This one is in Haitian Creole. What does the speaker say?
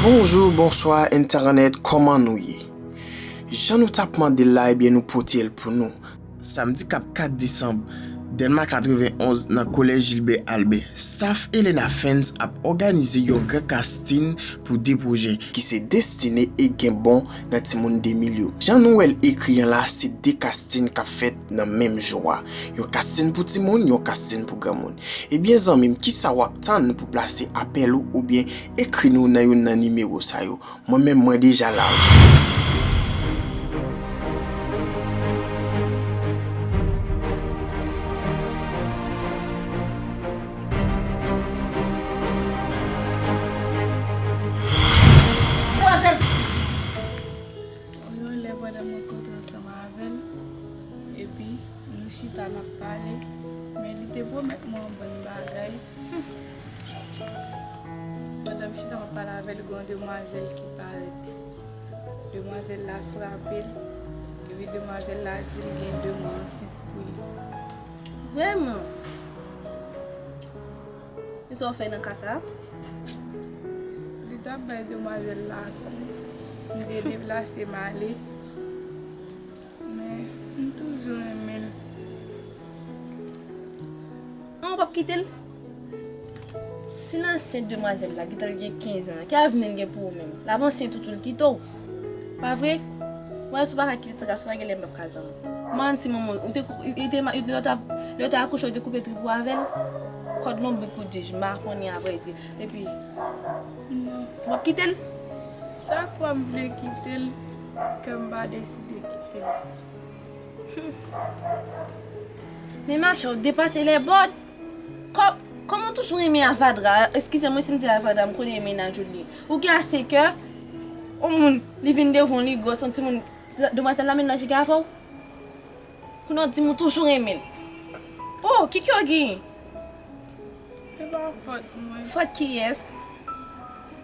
Bonjou bonswa entènèt kòman nou ye jan nou tap mandel la ebyen nou potel pou nou. Samdi kap 4 desanm, Dèlma 91 nan Collège Gilbert Albert, staff Elena Fans ap òganize yon gran casting pou 2 pwojè, ki se Destine e Gen Bon nan Timoun 2000 yo, jan nou wèl ekri an la se 2 casting kap fèt nan menm jou a. Yon kasin pou timoun, yon kasin pou granmoun. Ebyen zanmim kisa wap tann pou plase apèl ou oubyen ekri nou nan youn nan nimewo sa yo. Mwen menm mwen deja la wi. Yon lè pandan m rankontre ansanm avè l, epi nou chita n ap pale, men li te pwomèt mwen yon bann bagay. Pandan m chita m ap pale avè l, gen yon demwazèl ki parèt. Demwazèl la frape l, epi demwazèl la di l gen de mwa ansent pou li. Vrèman? Ki sa w fè nan ka sa a? Li t ap bay demwazèl la kou. M te deplase m ale. Men, m toujou renmen l. An, w pap kite l? Si l ansent demwazèl la, gentan l gen 15 an, ki avni l gen pou ou menm? L ap ansyen toutoultito. Pa vre? Mwen wè si w pa ka kite ti gason an gen lè menm kazan m. M'en si manman l. Lè w te akouche ou te koupe trip ou avè l? Kòd lonbrik ou di? M pa konnen avrèdi. Epi, w ap kite l? Chak fwa m vle kite l, kè m pa deside kite l. Men ma chè, w depase lè bòd! Kòm ou toujou renmen avadra eskize mwen si m di avadra m konnen menaj ou li ou gen ase kè on moun li vin devan w li gwòs on timoun demwazèl la menaj li gen avè w pou non di m ou toujou renmen l oh ki kè w genyen se pa fòt mwen fòt kiyès.